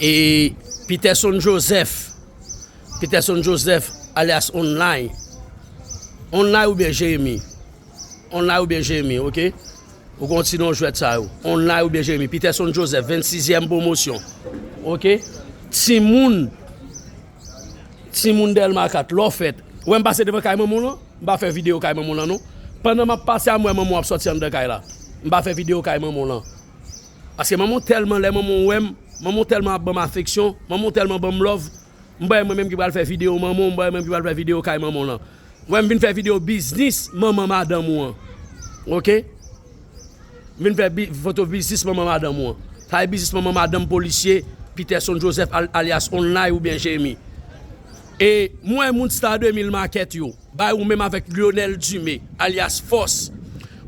E Peterson Joseph, Peterson Joseph alyas Onlay, Onlay oubyen Jeremi, Onlay oubyen Jeremi ok, ou kon ti non jwèt sa yo, Onlay oubyen Jeremi, Peterson Joseph 26 zyèm pwomosyon ok, timoun, timoun Dèlma 4 lè w fèt, wè m pase devan kay manman w lan, m pa fè videyo kay manman w lan non, pandan m ap pase a m wè manman w ap sòti anndan kay la, m pa fè videyo kay manman w lan. Paske manman w tèlman lè manman w wè m manman w tèlman ap ban m afeksyon manman w tèlman ban m love m pa wè mwen menm ki pral fè video manman w m pa wè mwen menm ki pral fè video kay manman w lan m wè m vin fè video biznis manman madanm ou an ok m vin fè foto biznis manman madanm ou an sa vle biznis manman madanm polisye Peterson Joseph alyas Onlay oubyen Jhemy e m wè moun star 2000 makèt yo. Bay ou menm avèk Lyonel Dumé alyas Fòs,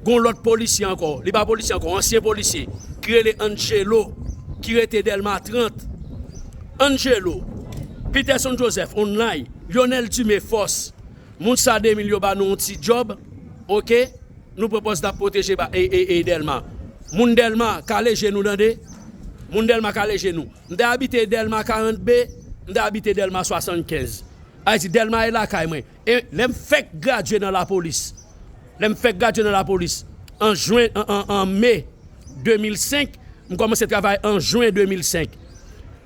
gen yon lòt polisye ankò, li pa polisye ankò, ansyen polisye, ki rele Angelo, ki rete Dèlma 30. Angelo, Peterson Joseph, online, Lyonel Dumé Fòs, moun sa 2 mil yo ba nou yon ti djòb, ok, nou pran pòz n ap pwoteje Dèlma. Moun Dèlma, kale je nou tande, moun Dèlma kale je nou. M te abite Dèlma 40 B, m te abite Dèlma 75. Ayiti Dèlma e lakay mwen e lè m fèk gradye nan lapolis lè m fèk gradye nan lapolis an jwen an me 2005 m kòmanse travay an jwen 2005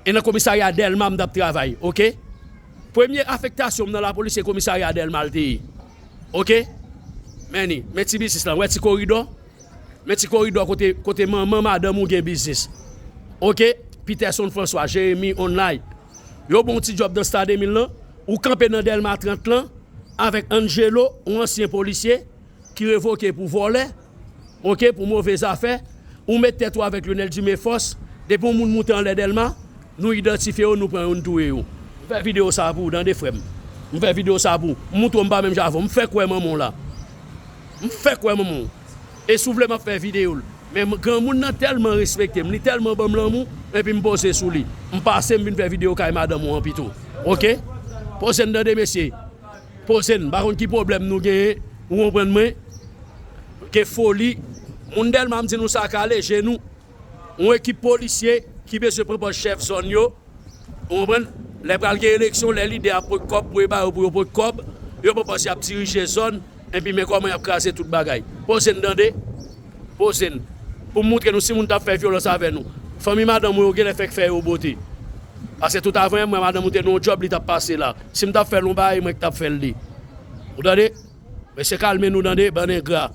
e nan komisarya Dèlma m t ap travay oke premye afektasyon m nan lapolis se komisarya Dèlma l te ye oke men ni men ti biznis lan wè ti koridò. Men ti koridò kote kote manman madanm ou gen biznis ok Peterson François Jérémie online yo bon ti djòb nan star 2000 lan ou kanpe nan dèlma 30 lan avèk Angelo yon ansyen polisye ki revoke pou vòlè ok pou move zafè ou met tèt ou avèk Lyonel Dumé Force depi yon moun moute anlè dèlma nou idantifye yo nou pran yo nou touye yo. M fè videyo sa pou ou tande frèm m fè videyo sa pou ou m moutre w m pa menm jan avè w m fèk wè manman w la M fèk wè manman w e si w vle map fè video l men granmoun nan tèlman respekte m li tèlman banm lanmou epi m poze sou li m pase m vin fè video kay madanm ou an pito ok poze n tande mesye poze n m pa konn ki pwoblèm nou genyen ou konprann mwen gen foli moun dèlma m di nou sa kale je nou. yon ekip polisye ki bezwen pran pòs chèf zòn yo, ou konprann, lè pral gen eleksyon, lè lidè ap pran kòb pou yo ba yo pou yo pran kòb, yo pran pòs y ap dirije zòn, enpi men kòman y ap kraze tout bagay. Poze n tande, poze n, pou m moutre nou si moun t ap fè vyolans avè nou, fanmi madanm ou yo genlè fèk fè yo bote. Paske tout avan m wè madanm ou te nan yon djòb li t ap pase la, si m t ap fè l yon bagay, e mwen ki t ap fè l li. Ou tande? Mesye kalme nou tande, bann engra.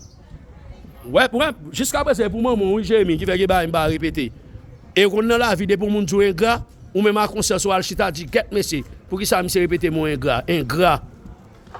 Wep wep, jiska prezan e pou manman w wi Jérémie ki fè gen bagay m pa repete. E konn nan lavi depi yon moun di w engra, ou menm a konsyans ou al chita di gèt mesye, poukisa misye repete mo engra, engra.